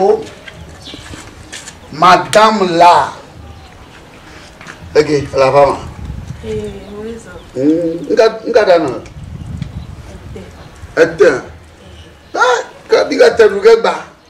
Oh, madame là. Ok, la femme. Eh, oui, ça. Nga da na. Ete. Ah, ka bi ka te du ke gba.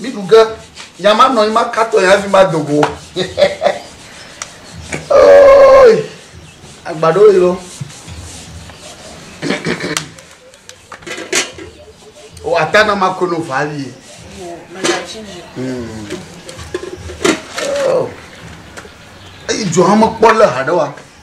Mi ɖu ge, nya ma nɔ anyi ma ka tɔ ya hafi ma do go. Oi, agbado yi lo. O ata na ma kono vali. Hmm. Oh. Eyi jo hama kpɔ le haɖe wa.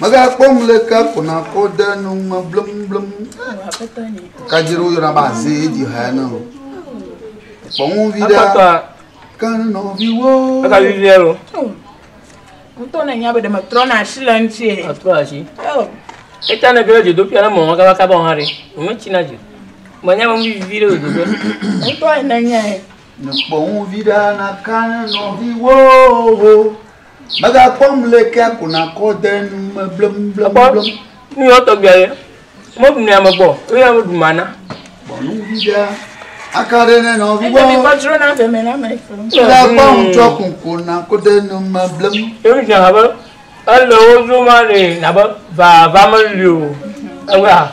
Megakpɔ ŋleke ko nakɔ de nu me blemblem. Kadzi ɖe woyɔna be aze ye dzi ha ne o. Kpɔ ŋu vi ɖe. Kan nɔviwo. Eka vi vi alo. Ŋutɔ ne nya be ɖe me trɔ na asi le ŋuti. Atrɔ asi. Eta ne gele dzodo pia na mɔ maka maka ba hã ɖe. Ŋu tsi na dzi. Mɔ nya me vi vi ɖe dzodo. Ŋutɔ ne nya. Kpɔ ŋu vi ɖe na kan nɔviwo. Megakpɔ mlekea ko nakɔ de nu me blemblem. Nu yɔ tɔgbia ye. Mobu ne ame gbɔ, eye ame ɖu mana. Bɔ nu vi ɖe. Aka ɖe ne nɔ vi gbɔ. Ebi kɔ dzro na veme na me fɔ. Megakpɔ ŋutsɔ ko ko nakɔ de nu me blem. Ebi dzina abe ele wo dzro ma ne nabe vava meli o. Ewa.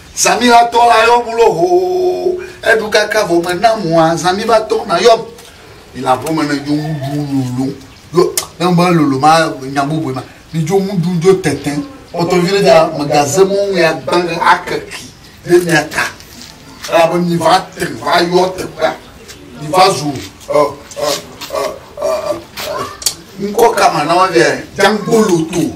Zãmiva tɔ la yɔ mu lo hoo, eɖu kaka vɔ me na mua, zãmiva tɔ na yɔ mu. Mi la ƒome ne dzo ŋu ɖu lolo, yo ne me lolo ma nya bubue ma, mi dzo ŋu ɖu dzo tete. Kpɔtɔ vi ɖe da me ga ze mɔ ŋu ya gbã ɖe ake ki ɖe mia ta. Ela be mi va te va yɔ teƒea, mi va zu ɔ ɔ ɔ ɔ ɔ ŋkɔ kama na wo via, django loto.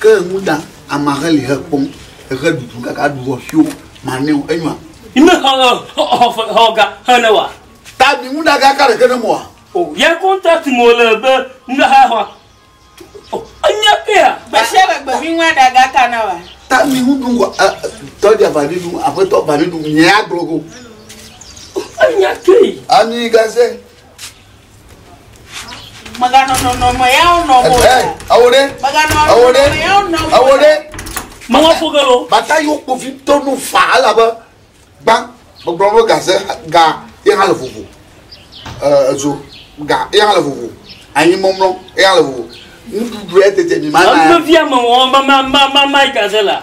Ke ŋu ta amea he li he kpɔm ehe ɖuɖu kaka ɖu vɔ fio ma neo enyɔa. Ime xɔ xɔ xɔ xɔ xɔ ga he ne wa. Ta bi ŋu da ga ka ɖeke ne mo wa. O ya contract mo le be ŋu da ha wa. O enya pe ya. Gbeshia le gbe mi ŋua da ga ka na wa. Ta mi ŋu ɖu ŋgɔ a tɔ dia va ɖe ɖu aƒetɔ va ɖe ɖu mi ya gblɔ go. O enya ke yi. Ami ga se. Mèganɔ nɔnɔme yawo nɔ o. Ɛ, awo ɖe. Mèganɔ Awo ɖe. nɔnɔme yawo nɔ o. Awo ɖe. Mawa fo ge lo. Bata yiwo kpovitɔ nu fa elabe gbã gbɔgblɔ be gaze ga ye hã le vovo. Ɛ, edzo ga ye hã le vovo. Anyi mɔmlɔ ye hã le vovo. Nuɖuɖu ya tete mi mana. Ame via me wɔm mama mama mama gaze la.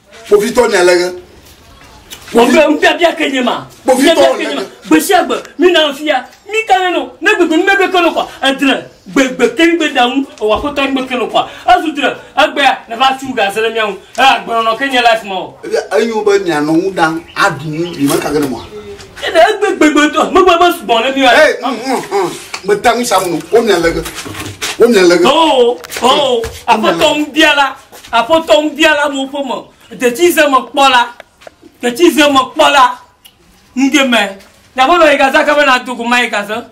Kpovitɔ nya le ɣe. Kpovitɔ ŋu biabia ke nye ma. Kpovitɔ ke nye ma. Gbesia gbe, mi na fia, mi ka ne no, ne gbegbe mi bebe ke no kwa, edre, gbegbe ke mi be da ŋu, ewa ko tɔ mi ke no kwa. Ezu dre, egbea, ne va tu ga zele mia ŋu. E agbenɔ nɔ ke nye life ma o. Ebia, enyo be mia nɔ ŋu dan, a du ŋu, mi me ka ke ne mɔa. Ede egbe gbegbe tɔ, me gbe be su bɔn le mi wa. Hey, mm, mm, mm. Me ta ŋu sa mu no, o mia le ge. O mia le ge. Oh, oh, apotɔ ŋu biala. Aƒetɔ nubiala mo ƒe me detsi ze me kpɔ la, detsi ze me kpɔ la, nuge me na ƒe me yi gaza ka be na dogo ma yi gaza.